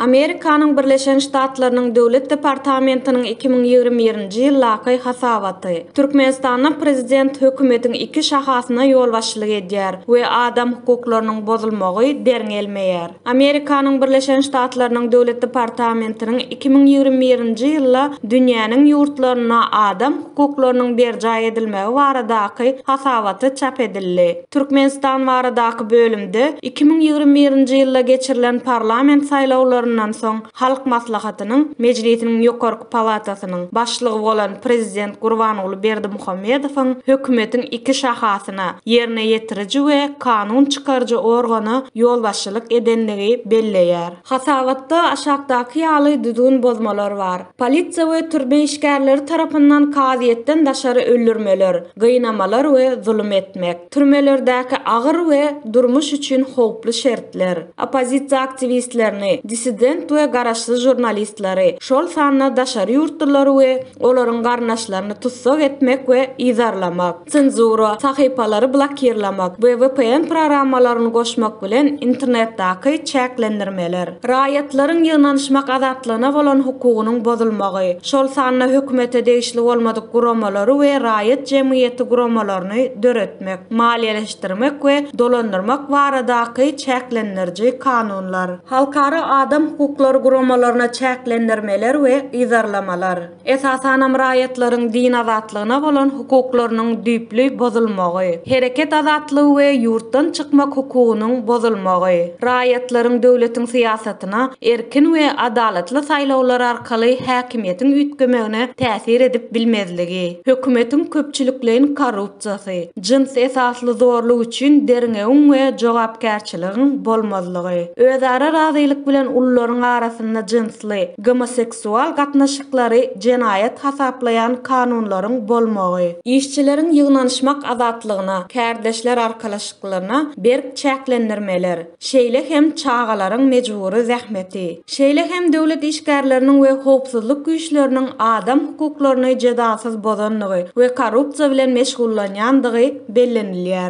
Amerikanyň Birleşen Ştatlarynyň Döwlet departamentiniň iki müň ýigrimi birinji ýyl lakaý hasabaty, Türkmenistanda prezident hökümetiň iki şahasyna ýolbaşçylyk edýär we adam hukuklarynyň bozulmagy derňelmeýär. Amerikanyň Birleşen Ştatlarynyň Döwlet departamentiniň iki müň ýigrimi birinji ýylda dünýäniň ýurtlarynda adam hukuklarynyň berjaý edilmegi baradaky hasabaty çap edildi. Türkmenistan baradaky bölümde iki müň ýigrimi birinji ýylda geçirilen parlament saýlawlaryndan soň Halk Maslahatynyň Mejlisiniň ýokarky palatasynyň başlygy bolan prezident Gurbanguly Berdimuhamedowyň hökümetiň iki şahasyna, ýerine ýetiriji we kanun çykaryjy organa ýolbaşçylyk edendigi belleýär. Hasabatda aşakdaky ýaly düzgün bozmalar bar, polisiýa we türme işgärleri tarapyndan kazyýetden daşary öldürmeler, gynamalar we zulum etmek, türmelerdäki agyr we durmuş üçin howply şertler, oppozisiýa aktiwistlerini, dissident we garaşsyz žurnalistleri, şol sanda daşary ýurtlulary we olaryň garyndaşlaryny tussag etmek we yzarlamak. senzura, sahypalary blokirlemek we vpn programmalaryny goşmak bilen internetdaky çäklendirmeler, raýatlaryň ýygnanyşmak azatlygyna bolan hukugynyň bozulmagy, şol sanda hökümete degişli bolmadyk guramalary we raýat jemgyýeti guramalaryny döretmek, maliýeleşdirmek we dolandyrmak baradaky çäklendiriji kanunlar. Halkara adam hukuklary guramalaryna çäklendirmeler we yzarlamalar. esasanam raýatlaryň din azatlygyna bolan hukuklarynyň düýpli bozulmagy, hereket azatlygy we ýurtdan çykmak hukugynyň bozulmagy, raýatlaryň döwletiň syýasatyna erkin we adalatly saýlawlar arkaly häkimiýetiň üýtgemegine täsir edip bilmezligi, hökümetiň köpçülikleýin korrupsiýasy, jyns esasly zorluk üçin derňewiň we jogapkärçiligiň bolmazlygy, özara razylyk bilen ullaryň arasynda jynsly, Gomoseksual gatnaşyklary jenaýat hasaplaýan kanunlaryň bolmagy. Işçileriň ýygnanyşmak azatlygyna, kärdeşler arkalaşyklaryna berk çäklendirmeler, şeýle hem çagalaryň mejbury zähmeti, şeýle hem döwlet işgärleriniň we howpsuzlyk güýçleriniň adam hukuklaryny jedasyz bozandygy we korrupsiýa bilen meşgullanýandygy bellenilýär.